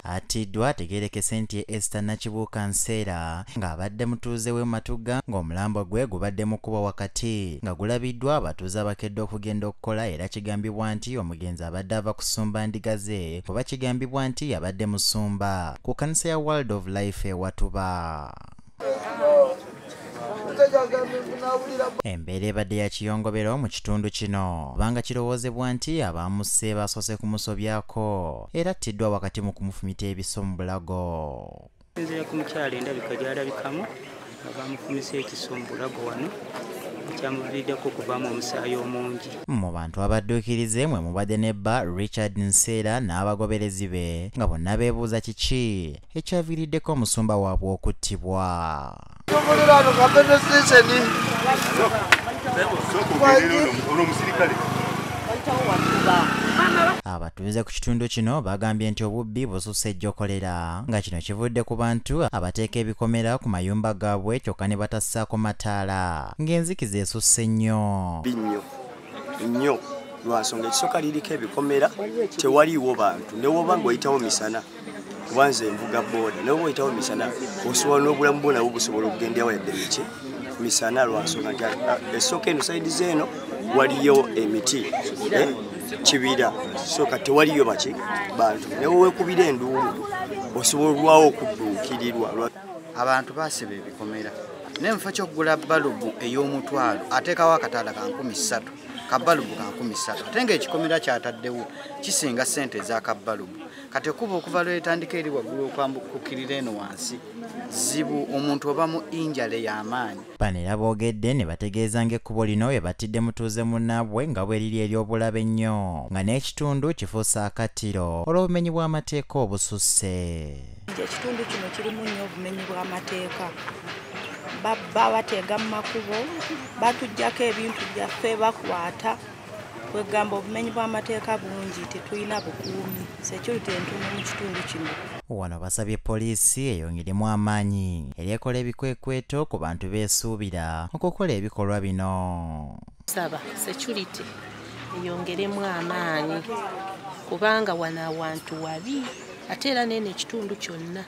Atiddwa ategerekese nti Esther Nakibuuka Nseera ng'abadde mutuuze w'e Matugga ng'omulambo gwe gubadde mu kkubo wakati nga gulabiddwa abatuuze abakedde okugenda okukola era kigambibwa nti omugenzi abadde ava kusumba ndiga ze kuba kigambibwa nti yabadde musumba ku kanisa ya World of Life e Watuba. embeera ebadde ya kiyongobero mu kitundu kino kubanga kirowoozebwa nti abaamusse baasoose kumusobyako era attiddwa wakati mu kumufumita ebiso mu bulago nzira ku mukyalo endabika gyalabikamu nga bamufumisa ekiso mu bulago wano ekyamuviiriddeko okuvaamu omusaayi omungi mu bantu abadduukirize mwe mubadde ne bba richard nseera n'abagoberezi be nga bonna beebuuza kiki ekyaviiriddeko omusumba waabwe okuttibwa abatuuze ku kitundu kino bagambye nti obubbi bususse ejjokolera nga kino kivudde ku bantu abateeka ebikomera ku mayumba gaabwe kyokka ne batassaako mataala ng'enzikiza esusse nnyo binnyo nnyo lwansonga ekisooka liriko ebikomera tewaliiwo bantu newoba ngaoyitawo misana kuba nze nvuga booda naye oba oyitawo misana osobola n'obulamu bwo nabwo busobola okugendawo yadde miki misana lwansonga nti ah, esooka eno saidi zeeno waliyo emiti eh, kibira soka tewaliyo baki bantu naye wekubira enduulu osobola olwawo okudduukirirwa abantu basiba ebikomera naye mufa kyokugula balubu ey'omutwalo ateekawo akataala ka nkumi ssatu kabalubu ka nkumi ssatu ate ngaekikomera kyataddewo kisinga ssente ezakabalubu kati ekuba okuva lwetandika eri waggulu okwambukukirira eno wansi zibu omuntu oba mu injale y'amaanyi bano era boogedde ne bategeeza ng'ekkubo lino bwe batidde mutuuze munnaabwe nga bwe liri ery'obulabe ennyo nga n'ekitundu kifuuse akattiro olw'obumenyi bw'amateeka obususse ekitundu kino kirimu nnyo obumenyi bw'amateeka babba bateega mu makubo batuggyako ebintu byaffe bakwata kwegamba obumenyi bw'amateeka bungi tetulina bukuumi security entumu mu kitundu kino wano basabye poliisi eyongeremu amaanyi eri ekola ebikwekweto ku bantu beesuubira okukola ebikolwa bino saba security eyongeremu amaanyi kubanga wano awantu wabi ate era nene ekitundu kyonna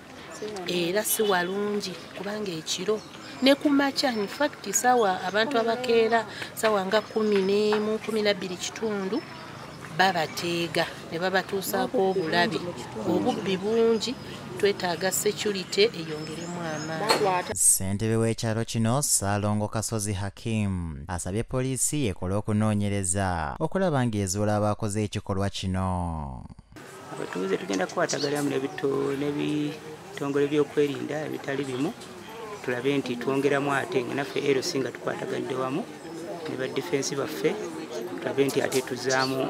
era si walungi kubanga ekiro ne ku makya infacti saawa abantu abakeera saawa nga kumi n'emu kumi nabbiri kitundu babateega ne babatuusaako obulabi obubbi bungi twetaaga security eyongeremu amaanyi ssentebe w'ekyalo kino saalongo kasozi hakim asabye poliisi ekole okunoonyereza okulaba ng'ezuula abaakoze ekikolwa kino abatuuze tugenda kukwataganamu n'ebitongole byokwerinda ebitali bimu tulabe nti twongeramu ate nga naffe lc nga tukwataganidde wamu ne badefensi baffe tulabe nti ate tuzaamu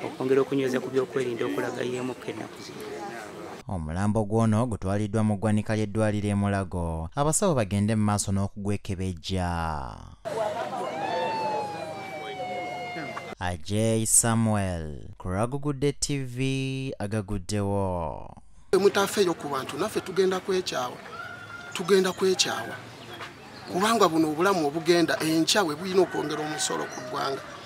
okwongera okunyweza ku byokwerinda okulaga yeemukka ennaku zino omulambo gw'ono gutwaliddwa mu ggwanika ly'eddwaliro e mulago abasawo bagende mu maaso n'okugwekebejja Ajay Samuel kuragugudde TV agaguddewo emutafeeyo ku bantu naffe tugenda kwekyawa tugenda kwekyawa kubanga buno obulamu obugenda enkya we bulina okwongera omusolo ku ggwanga